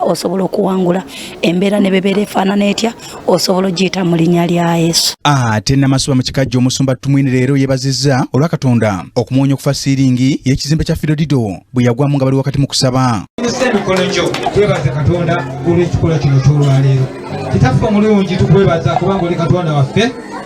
osobola okuwangula embeera ne bebeera efaanana etya osobola ogiyita mu linnya lya yesu ate ah, namasuba mu kikajja omusumba tumwini leero yeebazizza olwa katonda okumuwonya okufa siiringi y'ekizimbe kya fidodido bwe yagwamu nga bali wakati mu kusaba nzisa emikono gyo twebaze katonda olw'ekikolwa kino ky'olwaleero kitaffe omulungi tukwebaza kubanga oli katonda waffe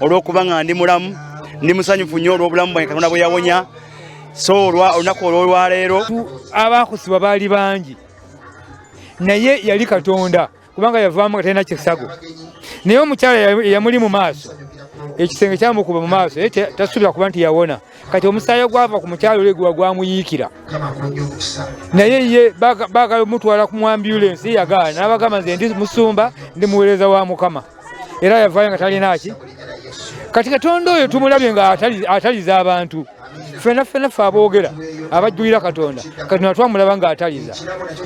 olw'okuba nga ndi mulamu ndi musanyufu nnyo olw'obulamu bwange katonda bwe yawonya so olunaku olwolwaleero abaakusibwa baali bangi naye yali katonda kubanga yavaamu nga talina kisago naye omukyala yamuli mu maaso ekisenge kyamukuba mu maaso naye tasuubira kuba nti yawona kati omusaayi ogwava ku mukyalo ole guba gwamuyiikira naye ye baagala omutwala ku mwambulensi yagaana n'abagamba nze ndi musumba ndi muweereza wa mukama era yavaayo nga talina ki kati katonda oyo tumulabye nga ataliza abantu fena fena fe aboogera abajjulira katonda katonda twamulaba nga ataliza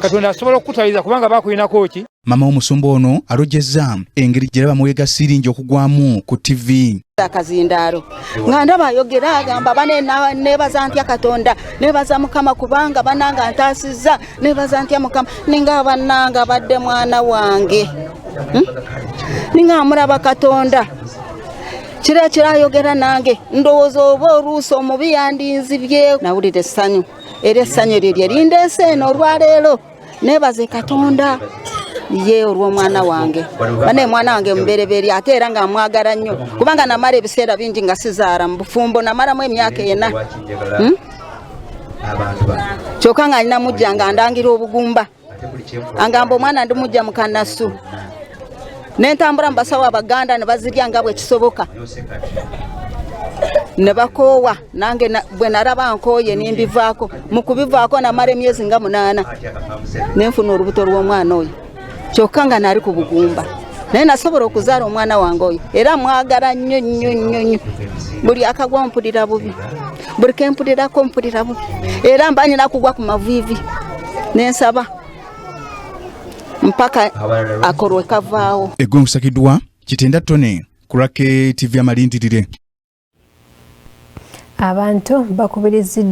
katonda asobola okukutaliza kubanga bakulinako ki mama w'omusumba ono alojezza engeri gye laba muweega siiringi okugwamu ku ttivi akazindaalo nga ndaba ayogera agamba banebaza ntya katonda nebaza mukama kubanga bananga ntaasizza nebaza ntya mukama ninga abannange abadde mwana wange hmm? ninga amulaba katonda kira kirayogera nange ndowooza oba oluusi omubi yandinzibye nawulira essanyu era essanyu eryo lye lindeese eno olwaleero nebaze katonda ye olw'omwana wange banaye mwana wange mubereberye ate era nga mwagala nnyo kubanga namala ebiseera bingi nga sizaala mu bufumbo namalamu emyaka ena hmm? kyoka nga alina mujja nga andangira obugumba angamba omwana ndi mujja mukanasu nentambula mubasawo abaganda nebazirya nga bwekisoboka nebakoowa nange bwe naraba nkooye nimbivaako mukubivaako namara emyezi nga munaana nenfuna olubuto lw'omwana oyo kyokka nga nali ku bugumba naye nasobola okuzaala omwana wange oyo era mwagala nnyo nnyo nnyo nnyo buli akagwa mpulira bubi buli kempulirako mpulira bubi era mba nyina kugwa ku maviivi nensaba mpaka akolwe kavaawo eggwe nkusakiddwa kitenda tone ku rake tv amalindirire abantu bakubiriziddwa